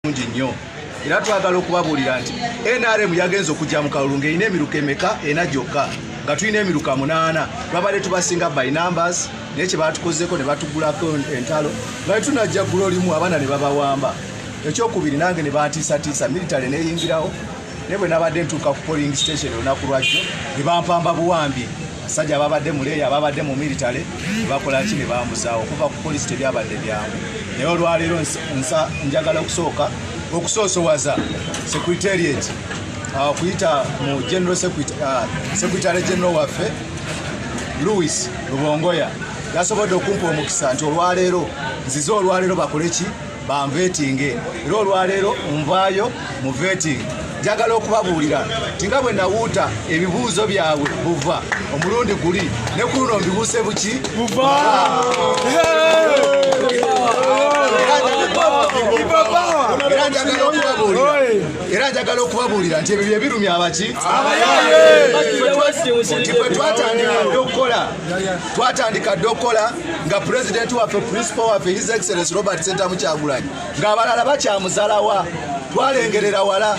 mungi nnyo era twagala okubabuulira nti nrm yagenza okujja mu kalulu ng'erina emiruka emeka ena gyokka nga tulina emiruka munaana twabadde tubasinga by numbers naye kye baatukozeeko ne batugulako entalo nga tetunajja ggulo limu abaana ne babawamba ekyokubiri nange ne bantiisatiisa military neyingirawo naye bwe nabadde ntuuka ku polling station olunaku lwajjo ne bampamba buwambi abasajja ababadde mu leeya ababadde mu militale bakola ki ne bamuzaawo okuva ku polisi tebyabadde byangu naye olwaleero njagala okusooka okusoosowaza secretariat uh, okuyita mu general uh, secretary general waffe louis lubongoya yasobodde okumpa omukisa nti olwaleero nzize olwaleero bakole ki banvetinge era olwaleero nvaayo mu veting njagala okubabuulira nti nga bwe nawuuta ebibuuzo byabwe buva omulundi guli ne ku luno mbibuuse buki buva era njagala okubabuulira nti ebyo byebirumya abaki abayaye twatandika dde okukola twatandika dde okukola nga pulezidenti waffe principal waffe his excellence robert sentamu kyagulanyi ng'abalala bakyamuzalawa twalengerera wala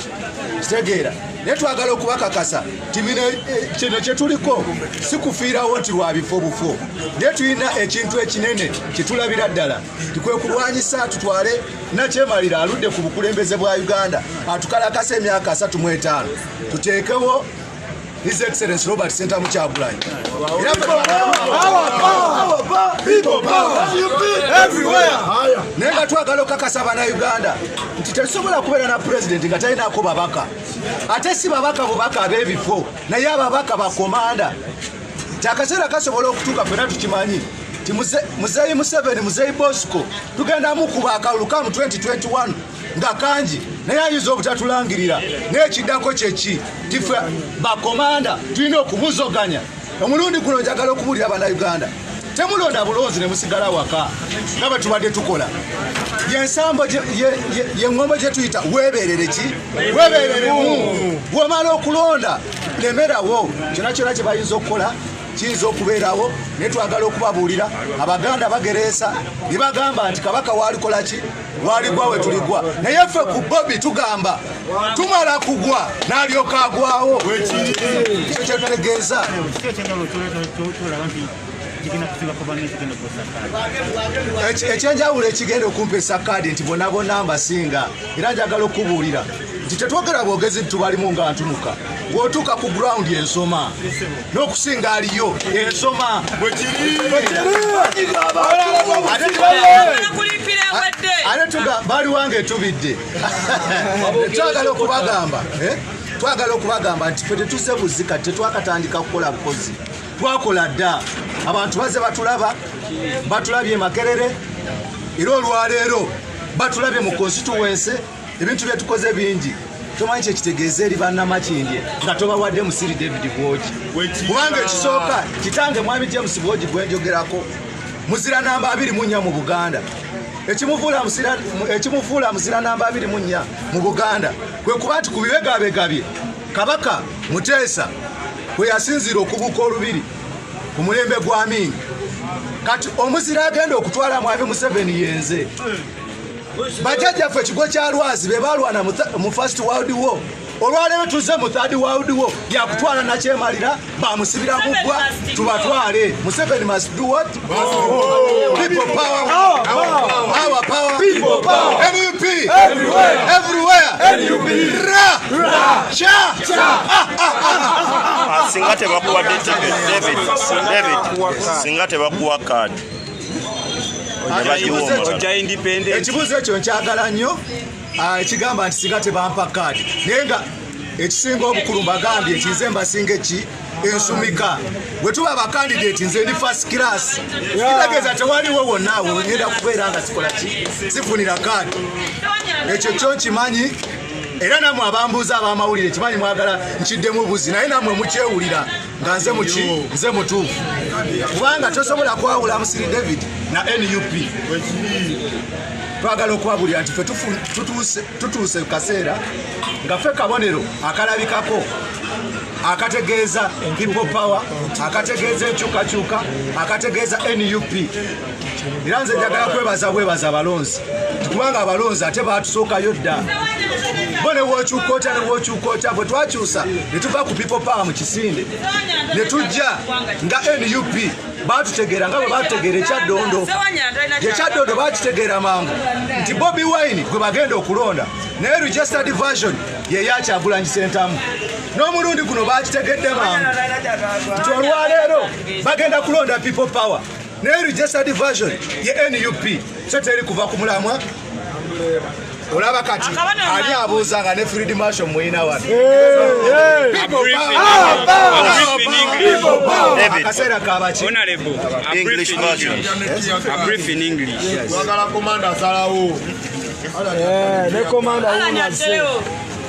kitegeera naye twagala okubakakasa timino eh, kino kyetuliko sikufiirawo nti lwabifo bufo naye tulina ekintu ekinene kyetulabira ddala tikwekulwanyisa tutwale nakyemalira aludde ku bukulembeze bwa uganda atukalakasa emyaka asatu mu etaano tuteekewo His Excellency Robert Sentamu Kyagulanyi. Naye nga twagala okukakasa bannayuganda nti tetusobola kubeera na pulezidenti nga talinaako babaka ate si babaka bubaka ab'ebifo naye ababaka bakomanda nti akaseera kasobola okutuuka fena tukimanyi nti muzeeyi museveni muzeeyi bosco tugenda mukuba akalulu kamu 2021 nga kangi naye ayinza obutatulangirira naye ekiddako kyeki tife bakomanda tulina okubuzoganya omulundi guno njagala okubuulira banauganda temulonda bulonzi ne musigala waka nga bwe tubadde tukola yensambo yeŋŋombo gye tuyita weebeerere ki weebeereremu womala okulonda lemerawo kyona kyona kye bayinza okukola kiyinza okubeerawo naye twagala okubabuulira abaganda bagereesa ne bagamba nti kabaka waalikola ki waligwa wetuligwa naye ffe ku bobi tugamba tumala kugwa nalyoka agwawo ekyo kyetutegeeza ekyenjawulo ekigenda okumpa esakaadi nti bonabona mbasinga era njagala okubuulira nti tetwogera bwogezi ntubalimu nga ntunuka wotuuka ku ground ensoma n'okusinga aliyo ensoma baliwange tubidde twagala okubagamba eh? twagala okubagamba nti fe tetuse buzika tetwakatandika kukola bukozi twakola dda abantu baze batulaba batulabye makerere era olwaleero batulabye mu konsituwense ebintu byetukoze bingi tomanyi kyekitegeeza eri banamakindye nga tobawadde musiri david bwogi kubanga ekisooka kitange mwami james bwogi gwenjogerako muzira namba abiri munya mu buganda ekimufuula muzira namba abiri munya mu buganda kwe kuba nti ku bibegabegabye kabaka muteesa kwe yasinziira okubuuka olubiri ku mulembe gw'amiini kati omuzira agenda okutwala mwami museveni yenze bajajjaffe ekigo kya lwazi be balwana mu first world war olwaleero tuzze mu third world war yakutwala nakyemalira bamusibira mugwa tubatwale museveni must do what people power our power people power nup everywhere everywhere nup ra ra cha cha ah, ah, ah, singa tebakuwa david david singa tebakuwa card ekibuuzo ekyo nkyagala nnyo ah, ekigamba nti singa tebampa kaadi naye nga ekisinga obukulu mbagambye nti nze mbasinga eki ensumika bwe tuba abakandidati nze ndi fast class kitegeeza tewaliwo wonna awo ngenda kubeera nga sikola ki sifunira kaadi ekyo kyo nkimanyi era namwe abambuuza abamawulire kimanyi mwagala nkiddemu buzi naye namwe mukyewulira nga nze muki nze mutuufu kubanga tosobola kwawula musiri david na nup twagala okwabulira nti fe tutuuse kaseera nga fe kabonero akalabikako akategeeza people power akategeeza enkyukakyuka akategeeza nup era nze njagala kwebaza bwebaza abalonzi kubanga abalonzi ate batusookayo dda bo newokyuka otya newokyuka otya bwe twakyusa ne tuva ku people power mu kisinde ne tujja nga nup batutegeera nga bwe batutegeera ekyaddondo ekyaddondo bakitegeera mangu nti bobi wine gwe bagenda okulonda naye registered version yeyakyagulanyi sentamu n'omulundi guno bakitegedde mangu nti olwaleero bagenda kulonda people power naye registered version ye nup so teri kuva ku mulamwa olaba kati ali abuuza nga ne field marshal muyina wano akaseera kabaki ne komanda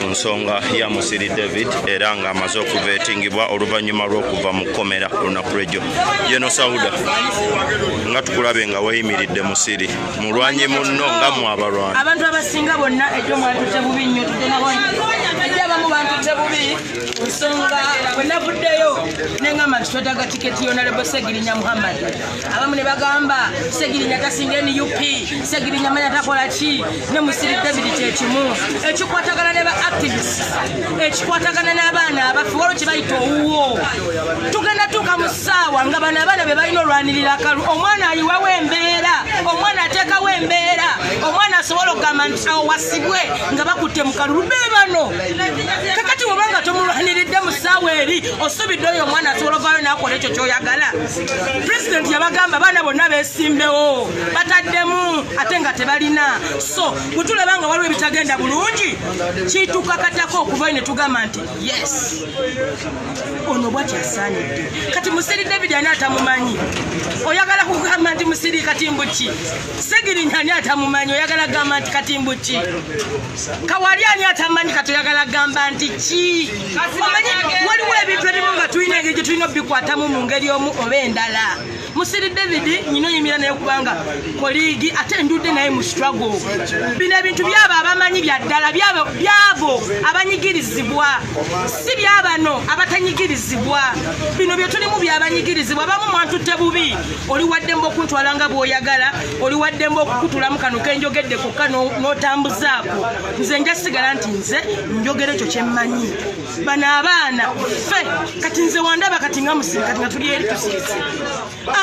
mu nsonga ya musiri david era nga amaze okuva etingibwa oluvannyuma lw'okuva mu kkomera olunaku lwejjo jeno sauda nga tukulabe nga weyimiridde musiri mulwanyi munno nga mwabalwana abantu abasinga bonna ejjo mwatute bubi nnyo ejjo abamu bantute bubi nsonga bwenavuddeyo nengamba nti twetaga tiketi yonalebo segirinya muhammad abamu ne bagamba segirinya tasinga nup segirinya manya takola ki ne musiri david kyekimu ekikwatagana ne ba activist ekikwatagana n'abaana abaffe waliwo kye bayita owuwo tugenda tuuka mu ssaawa nga bano abaana be balina olwanirira akalu omwana ayiwawo embeera omwana ateekawo embeera omwana asobola okugamba nti awo wasibwe nga bakutte mu kalulu be bano kakati woba nga tomulwaniridde mu ssaawa eri osubidde oyo omwana asobola ovaayo n'akola ekyo kyoyagala pulezidenti yabagamba abaana bonna besimbewo bataddemu ate nga tebalina so bwetulaba nga waliwo ebitagenda bulungi kitukakatako okuvayo ne tugamba nti yes ono bwakyasaanidde kati musiri david ani atamumanyi oyagala kugamba nti musiri katimbuki segirinya ani atamumanyi oyagala kugamba nti katimbuki kawali ani atamanyi kati oyagala kugamba nti ki omanyi waliwo ebintu ebimu nga tulina engeri gye tulina obikwatamu mu ngeri omu oba endala musiri david nyina oyimira naye kubanga koligi ate njude naye mu struggle bino ebintu byabo abamanyi byaddala byabo abanyigirizibwa si byabano abatanyigirizibwa bino byetulimu byabanyigirizibwa abamu mwantutte bubi oli waddemba okuntwala nga bwoyagala oli waddemba okukutulamu kano kenjogedde kokka notambuzaako nze njasigala nti nze njogera ekyo kyemmanyi bano abaana fe kati nze wandaba kati nga musiri kati nga tuli eri tusirise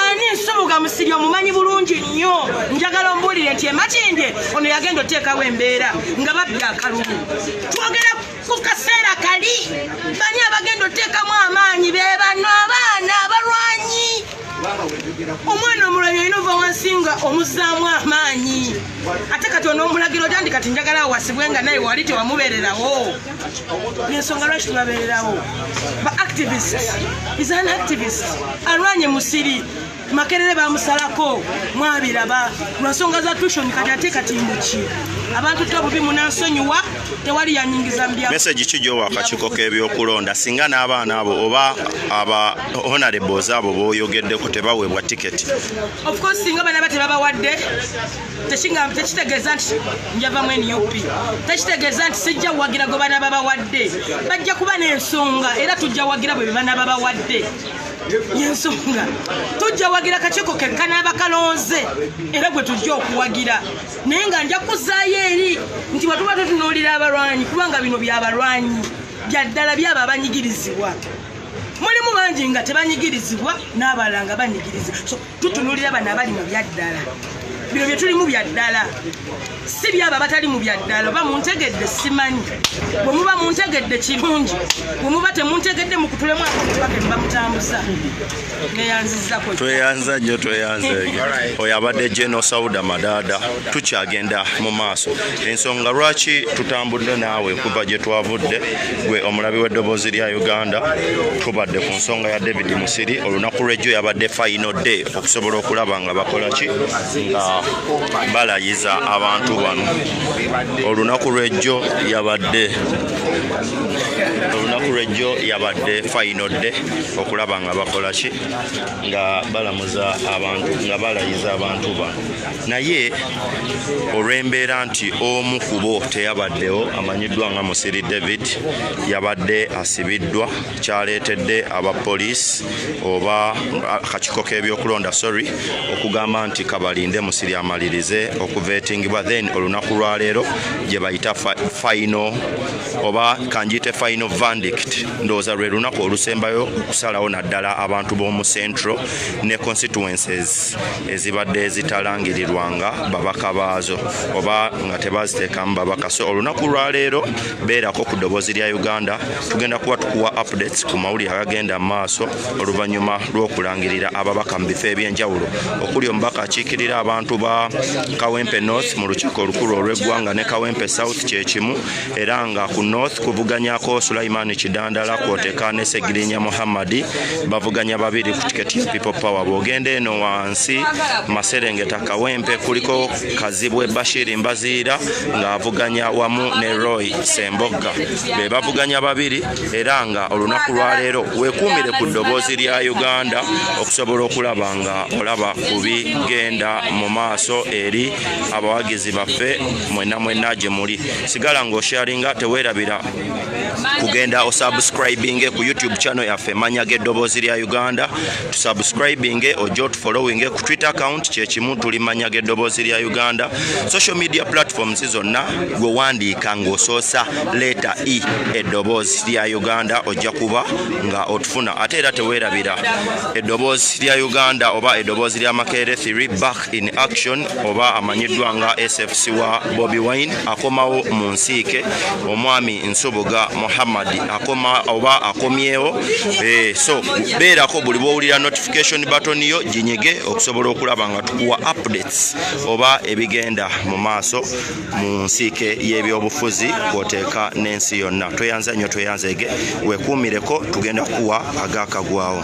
ani nsubuga musiri omumanyi bulungi nnyo njagala ombuulire nti emakindye ono yagenda oteekawo embeera nga babbi akalumu twogera ku kaseera kali bani abagenda oteekamu amaanyi be bano abaana abalwanyi omwana omulabi olina ova wansi nga omuzaamu amaanyi ate kati onomulagira otandi kati njagala awasibwe nga naye wali tewamubererawo yensonga lwaki tubabererawo ba activist is an activist alwanye musiri makerere bamusalako mwabiraba lwansonga za tushoni kati ate kati muki abantu to bubi munansonyiwa tewali yanyingiza mbya meseji ki gyowakakiko k'ebyokulonda singa n'abaana abo oba aba honorables abo boyogeddeko tebawebwa tiketi ofcourse singa banaba tebabawadde tekitegeeza nti njavamu nup tekitegeeza nti sijja wagira gwe bana babawadde bajja kuba n'ensonga era tujja wagira bwe bana babawadde yensonga tujja wagira kakiiko kekka n'abakalonze era gwe tujja okuwagira naye nga nja kuzaayo eri nti bwetuba tutunuulira abalwanyi kubanga bino byabalwanyi byaddala byabo abanyigirizibwa mulimu bangi nga tebanyigirizibwa n'abalala nga banyigirizibwa so tutunulira bano abali mu byaddala bino bye tulimu bya ddala si byabo abatali mu bya ddala oba muntegedde simanyi bwe muba muntegedde kirungi bwe muba temuntegedde mukutulemu akubake nebamutambuza neyanzizako tweyanza nnyo tweyanza eyo oyo abadde geno sauda madaada tukyagenda mu maaso ensonga lwaki tutambudde naawe kuva gye twavudde gwe omulabi w'eddoboozi lya uganda tubadde ku nsonga ya david musiri olunaku lwejjo yabadde final day okusobola okulaba nga bakola ki nga balayiza abantu bano olunaku lwejjo yabadde olunaku lwejjo yabadde final day okulaba nga bakola ki nga balamuza abantu nga balayiza abantu bano naye olw'embeera nti omu kubo teyabaddewo amanyiddwa nga musiri david yabadde asibiddwa kyaleetedde aba poliisi oba akakiiko k'ebyokulonda sorry okugamba nti kabalinde musiri amalirize okuvetingibwa then olunaku lwaleero gye bayita fayino oba kanjiyite fayino vandict ndowooza lwe lunaku olusembayo okusalawo naddala abantu b'omu central ne constituences ezibadde zitalangirirwanga babaka baazo oba nga tebaziteekamu babaka so olunaku lwaleero beerako ku ddoboozi lya uganda tugenda kuba tukuwa updates ku mawulire agagenda mu maaso oluvannyuma lw'okulangirira ababaka mu bifo eby'enjawulo okuli omubaka akiikirira abantu ba kawempe north mu lukiiko olukulu olw'eggwanga ne kawempe south kyekimu era nga ku north kuvuganyako sulaiman kidandala kwoteka ne segirinya muhammadi bavuganya babiri ku tiketi ya people power bwogenda eno wansi maserengeta kawempe kuliko kazibwe bashiri mbaziira ng'avuganya wamu ne roy sembogga be bavuganya babiri era nga olunaku lwaleero wekuumire ku ddoboozi lya uganda okusobola okulaba nga olaba ku bigenda mu maaso eri abawagizi baffe mwena mwena gye muli sigala nga osharinga tewerabira kugenda osubscribinge ku youtube channel yaffe manya g'eddoboozi lya uganda tusubscribinge ojja otufollowinge ku twitter account kyekimu tuli manya g'eddoboozi lya uganda social media platforms zonna gwe wandiika ng'osoosa leeta e eddoboozi lya uganda ojja kuba nga otufuna ate era tewerabira eddoboozi lya uganda oba eddoboozi lya makeere 3 back back in action oba amanyiddwa nga sfc wa bobi wine akomawo mu nsiike omwami nsubuga muhammad akoma oba akomyewo eh, so beerako buli bwowulira notification button yo ginyige okusobola okulaba nga tukuwa updates oba ebigenda mu maaso mu nsiike y'ebyobufuzi kwoteeka n'ensi yonna tweyanza nnyo tweyanzeege wekuumireko tugenda kukuwa agaakagwawo